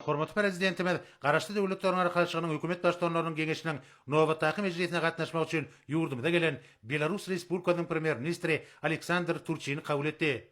Hormatly Prezidentimiz Garaşsyz Döwletleriň Arkalaşygynyň Hökümet Baştutanlarynyň Geňeşiniň nobatdaky mejlisine gatnaşmak üçin ýurdumyza gelen Belarus Respublikasynyň Premýer-ministri Aleksandr Turçini kabul etdi.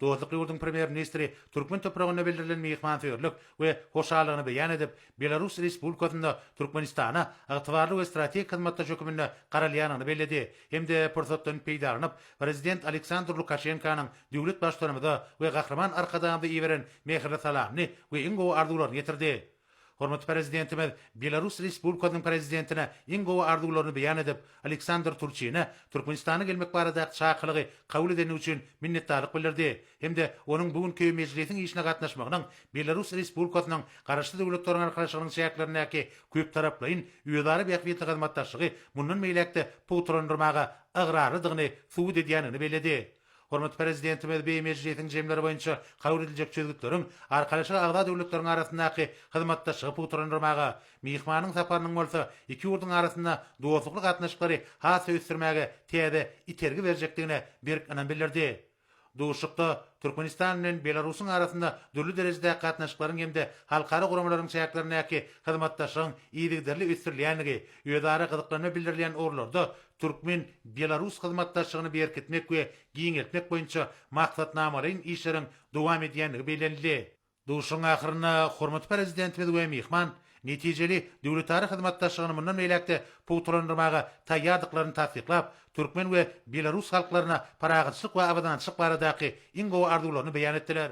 Dostlukly ýurduň Premýer-ministri türkmen topragynda bildirilen myhmansöýerlik we hoşallygyny beýan edip, Belarus Respublikasynda Türkmenistana ygtybarly we strategik hyzmatdaş höküminde garalýandygyny belledi hem-de pursatdan peýdalanyp, prezident Aleksandr Lukaşenkanyň döwlet Baştutanymyza we Gahryman Arkadagymyza iberen mähirli salamyny we iň gowy arzuwlaryny ýetirdi. Hormatly Prezidentimiz Belarus Respublikasynyň Prezidentine iň gowy arzuwlaryny beýan edip, Aleksandr Turçine Türkmenistana gelmek baradaky çakylygy kabul edeni üçin minnetdarlyk bildirdi hem-de onuň bu günki mejlisiň işine gatnaşmagynyň Belarus Respublikasynyň Garaşsyz Döwletleriň Arkalaşygynyň çäklerindäki köptaraplaýyn özara bähbitli hyzmatdaşlygy mundan beýläk-de pugtalandyrmaga ygrarlydygyny subut edýändigini belledi. Hormatly Prezidentimiz BM mejlisiň jemleri boýunça kabul ediljek çözgütleriň Arkalaşyga agza döwletleriň arasyndaky hyzmatdaşlygy pugtalandyrmaga, myhmanyň saparynyň bolsa iki ýurduň arasynda dostlukly gatnaşyklary has-da ösdürmäge täze itergi berjekdigine berk ynam bildirdi. Duşuşykda Türkmenistan bilen Belarusyň arasynda dürli derejedäki gatnaşyklaryň hem-de halkara guramalaryň çäklerindäki hyzmatdaşlygyň yzygiderli ösdürilýändigi, özara gyzyklanma bildirilýän ugurlarda türkmen-belarus hyzmatdaşlygyny berkitmek we giňeltmek boýunça maksatnamalaýyn işleriň dowam edýändigi bellenildi. Duşuşygyň ahyrynda hormatly Prezidentimiz we myhman netijeli döwletara hyzmatdaşlygyny mundan beýläk-de pugtalandyrmaga taýýardyklaryny tassyklap, türkmen we belarus halklaryna parahatçylyk we abadançylyk baradaky iň gowy arzuwlaryny beýan etdiler.